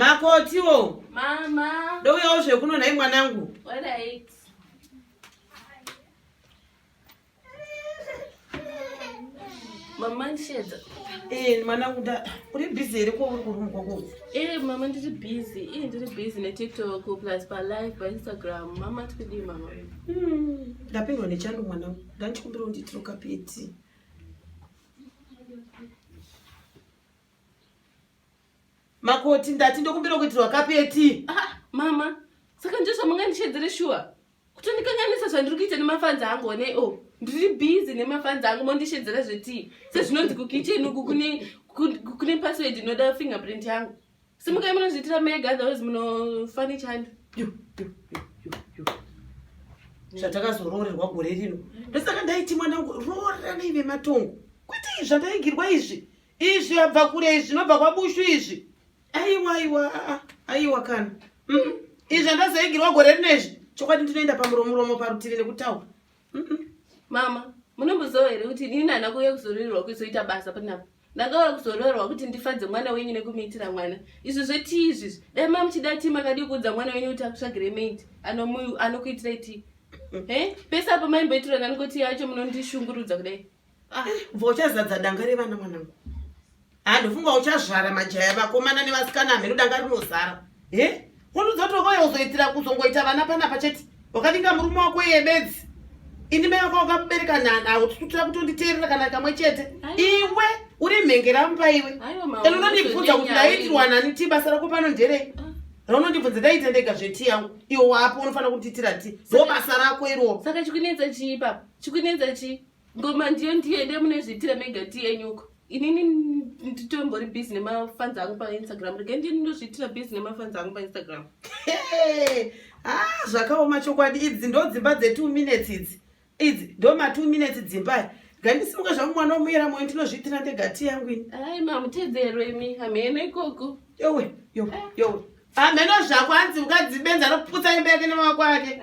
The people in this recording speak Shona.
makotiwo mama ndouyawo zvekuno nhai mwanangu Alright. mama ndishedza Eh, mwanangu nda uri busy here ko uri kurumwa ko Eh, mama ndiri busy ii ndiri busy netiktok plus palive painstagram mama tikudii mama Hmm, ndapindwa nechando mwanangu ndandichikumbira undiitiro kapeti Makoti ndati ndokumbira kuitirwa kapeti. Ah, mama, saka ndizvo zvamungandishedzere shuwa? Kutondikanganisa zvandiri kuita nemafanzi angu one o. Oh, ndiri busy nemafanzi angu mondishedzera zvetii? Sezvinonzi kukitchen uku kune kune password inoda fingerprint yangu. Simukai munozviitira mega otherwise munofane chando. Yo, yo, yo, yo, yo. Zvatakazoroorerwa gore rino. Ndosaka ndaiti mwana wangu roorera neive matongo. Kwete izvi zvandaigirwa izvi. Izvi yabva kure izvi zvinobva kwabushu izvi. Aiwa aiwa aiwa kana. Mm. Izvi andazoigirwa gore rino izvi. Chokwadi ndinoenda pamuromo romo parutivi nekutaura. Mm -mm. Mama, munomboziva here kuti ini nana kuuya kuzoroerwa kuzoita basa panapa? ndakauya kuzoroorwa kuti ndifadze mwana wenyu nekumuitira mwana izvi zvetii izvizvi dai mamuchida tii makadii kuudza mwana wenyu kuti akusvagire maid anokuitirai tii he pese apo maimboitirwa nani kuti yacho munondishungurudza kudai Ah, mva uchazadza danga revana mwanangu handifunga uchazvara majaya vakomana nevasikana hameno danga rinozara e wonudzotokoya uzoitira kuzongoita vana panapa chete wakavinga murume wako iye bedzi ini mai wako wakamubereka naututira kutonditeerera kana kamwe chete iwe uri mhengera mupa iwe ene unondibvunza kuti ndaitirwa nani ti basa rako pano nderei ah. raunondibvunza ndaita ndega zveti yangu iwe wapo unofanira kunditira ti ndo basa rako iroo saka chikunetsa chii papa chikunetsa chii ngoma ndiyo ndiye nde munezviitira mega tiyenyuko inini nditombori busy nemafanzi angu painstagram rege ndiye ndinozviitira busy nemafanzi angu painstagram ah, zvakaoma chokwadi idzi ndo dzimba dze two minutes idzi idzi ndo ma two minutes dzimbai gandisimuka zvangu mwana womuyera moyo ndinozviitira ndega ti yangu ini ai mamutedzero imi hamheno ikoko yowe yowe yowe hamheno zvako anzi ukadzibenza anoputsa imba yake nemawako ake